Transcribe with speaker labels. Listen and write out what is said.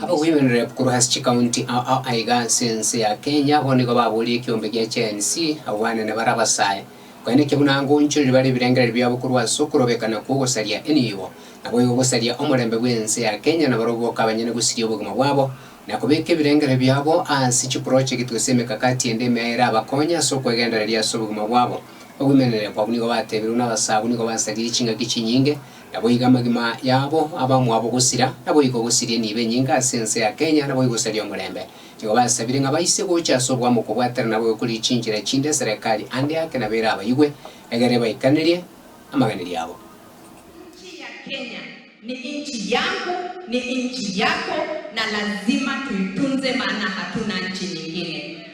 Speaker 1: Abogwenererep korwa ase chikaunti ao aiga ase ense ya Kenya abwo nigo baboria ekiombe gia Gen Z abwanene bare abasae. Konya naki buna ngoonchoreri bare ebirengererio biabo korwa ase okorobekana kw'ogosaria enibo, naboigo gosaria omorembe bw'ense ya Kenya nabarobwo okabanyene gosiria obogima bwabo na kobeka ebirengererio biabo ase chiprojekiti gose emekakati ende emea erabakonye ase okwegendereria ase obogima bwabo. Abogwenererep abwo nigo bateebirwe nabasae abwo nigo basaririe chingaki chinyinge Naboigo amagima yabo abamwabo gosira, naboigo gosirie nibe enyinga ase ense ya Kenya, naboigo saria omorembe. Nigo basabire ng'a baise gocha ase obwamo okobwatera nabo gokoria chinchera echinde eserekari ande ake nabo ere abaigwe, egere ebaikanerie amaganeri abo. Inchi ya
Speaker 2: Kenya ni inchi yangu ni inchi yako na lazima tuitunze maana hatuna nchi nyingine.